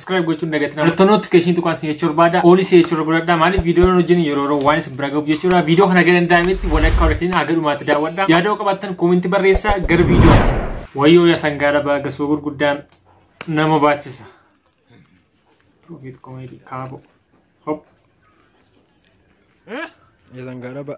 subscribe gochuun dagatina mallattoo notification tuqaan si jechuu barbaada oolii si jechuu barbaadadha maaliif viidiyoon hojii yeroo yeroo waan isin bira gahuuf jechuudha viidiyoo kana gara danda'ametti walakkaa walakkaa haga dhumaatti daawwadha yaadoo qabattan koominti barreessaa gara viidiyoo wayyoo yaa sangaa dhabaa gasoo gurguddaa nama baachisa profit comedy kaabo hop Ya sangaa dhabaa.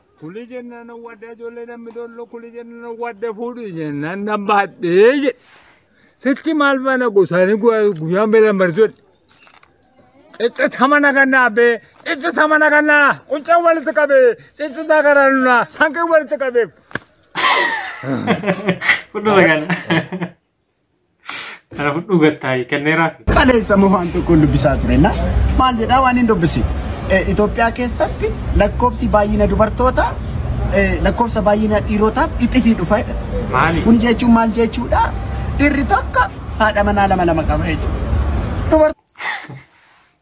Kuli jennaan owwadda ijoollee namni dollo kuli jennaan owwadda fuudhi jennaan nan baadhee jedhe. Sichi maal faana gosaanii guyyaa meelan barsiisudha. Ciccita mana kannaa bee ciccita mana kannaa quncee walitti qabee ciccita garaa nunaa sanqii walitti qabee. Fudhata kana. Kana fudhuu gattaayi kenneeraaf. Kaleessa moo waan tokko dubbisaa ture na maal jedhaa waan hin dubbisi. Itoophiyaa keessatti lakkoofsi baay'ina dubartootaa lakkoofsa baay'ina dhiirotaaf itifii dhufa jedha. Maali? Kun jechuun maal jechuudha? Dhiirri tokko haadha manaa lama lama qaba jechuudha. Dubartoonni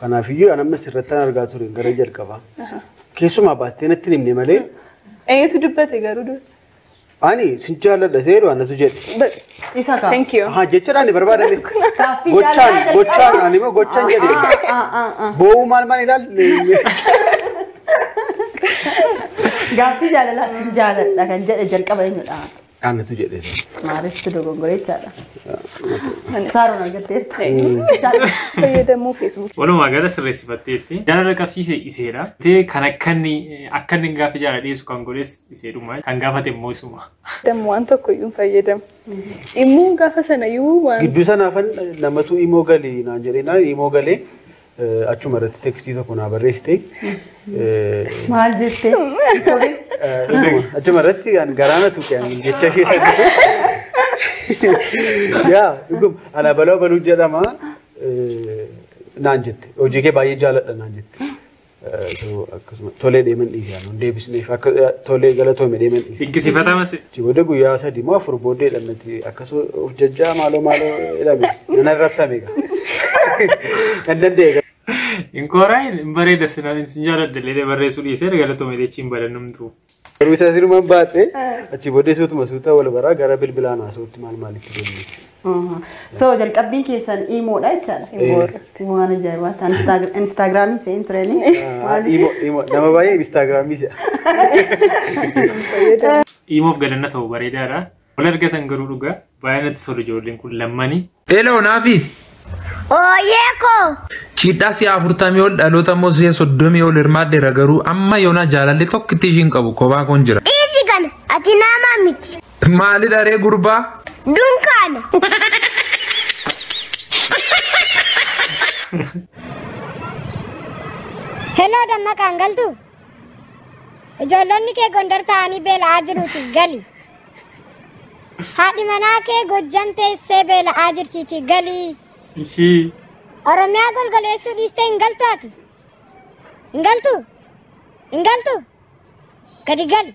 Kanaaf iyyuu an amma sirrattan argaa ture gara jalqabaa. Keessumaa baastee natti hin himne malee Eenyutu dubbate garuu dur? ani sin jaalladha seeru anatu jedhe. Isa kaa. Thank you. Haa jechaadhaan barbaadame. Gaaffii Gochaan jaalala gochaan jalqabaa. ani immoo gochaan jedhe. Ah, ah, ah, ah. Boo'uu maal maal ilaalte? Gaaffii jaalalaa sin jaaladha kan jedhe jalqaba eenyudha? Anatu jedhe. Maaristu dogongore jechaadha. Saaroon argatteetta. Fayyadamuu feesbuukii. Walumaa gala sirreessifatteetti. Jaalala qabsiise iseedha. Tee kan akkanni akkanni gaafa jaalala dhiyeessu kan godhes iseedhuma. Kan gaafate immoo isuma. Dammu waan tokko iyyuu hin fayyadamu. Immoo gaafa sana iyyuu waan Gidduu sanaafan namatu imoo gali naan jedhee naan imoo galee Achuma irratti tekstii tokko naa barreessite. Maal jettee? Sorry. Dhuguma achuma irratti kan garaana tuqe ani jecha ishee saddeetu. Yaa dhuguma ana baloo baluu jedhama eh, naan jette. Hojii kee baay'ee jaaladha naan jette. Eh, so, Akkasuma tolee deeman dhiise ani deebisneef akka eh, tolee galatoome deeman dhiise. Dinqisiifatamas Achi booda guyyaa sadii moo afur booddee dhannati akkas of jajjaa maaloo maaloo jedhame nan arrabsame gaa. Nan danda'e Hin kooraa hin bareeda sila hin jaaladha illee barreessuu dhiisee galatoomi illee hin badannumtu. garuu isaa sirumaan baadhe achi booddee suutuma suuta wal baraa gara bilbilaan haasa'utti maal maalitti deemne. Aha. So jalqabbiin keessan iimoodha jechaadha. Iimoodha. Waan ajaa'ibaa ta'an Instaag- Instaagiraamii se'een tureeni. Imo, imo. Nama baay'ee Instaagiraamii se'a. Iimoof galanna ta'u bareedaadha. Wal argatan garuu dhugaa baay'ee natti tolu ijoolleen kun lammanii. Eloo naafis. Ooyee koo! Chiidhaa si'a afurtamii ol dhaloota immoo si'a soddomii ol hirmaadheera garuu amma yoonaa jaalalli tokkitti ishiin qabu kophaa koon jira. Dhiisi kana ati nama miti. Maalidha ree gurbaa? Dunkaana. Heloo dammaqaan galtu. Ijoollonni kee Gondar ta'anii beela'aa jiruuti gali. Haadhi manaa kee Gojjam teessee beela'aa jirtiiti gali. Ishii. Oromiyaa golgoleessuu dhiistee hin galtu ati. Hin galtu. Hin galtu. Gadi gali.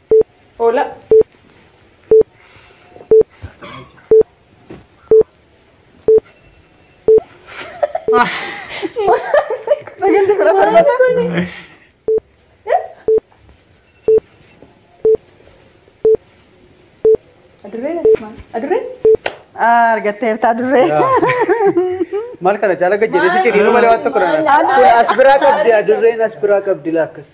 Hola. Sagantii kudha torbata. Adurree maal? Adurree? Ah, Argatteerta adurree. Maal kana caala gajjabeessi jedhinu malee waan tokko dha. Kun as biraa qabdi adurreen as biraa qabdi laakkas.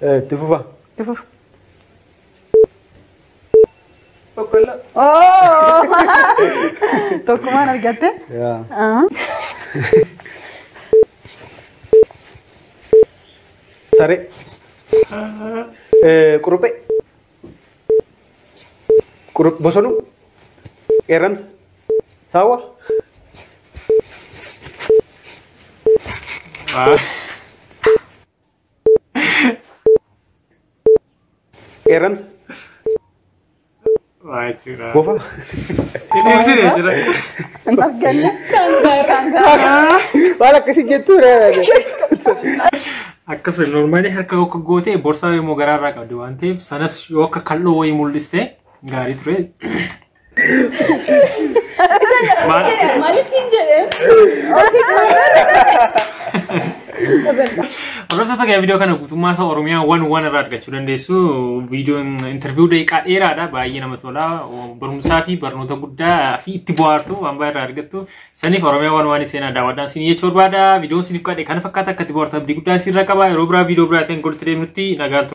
Itti fufa. Itti fufa. Boqqolloo. Oo! Tokkumaan argatte. Yaa. Ah. Saree. Eh, Quruphee. Qurup- Bosonuu. Qeerramsa. Saawwa. Ah. Qeerransa. Waa jechuudha. Bofa. Inni ibsine jira. Hin arganne. Waan akkasii jettuu Akkas normaalii harka akka gootee borsaa immoo garaarraa qabdi waan ta'eef sanas yoo akka kal'oo wayii mul'iste gaarii ture. Mali siin jedhe. Hordoftoota kee viidiyoo kana guutummaa isaa Oromiyaa waan waan irraa argachuu dandeessu. Viidiyoon interviiyuu daqiiqaa dheeraadha. Baay'ee nama tola. Barumsaa fi barnoota guddaa fi itti bohaartu waan baay'ee irraa argattu. Saniif Oromiyaa waan waan seenaa daawwadhaan siin jechuu barbaada. Viidiyoon siiniif qaadhe kana fakkaata akka itti bohaartu abdii guddaa siirra qaba. Yeroo biraa viidiyoo biraatiin walitti deemnutti nagaan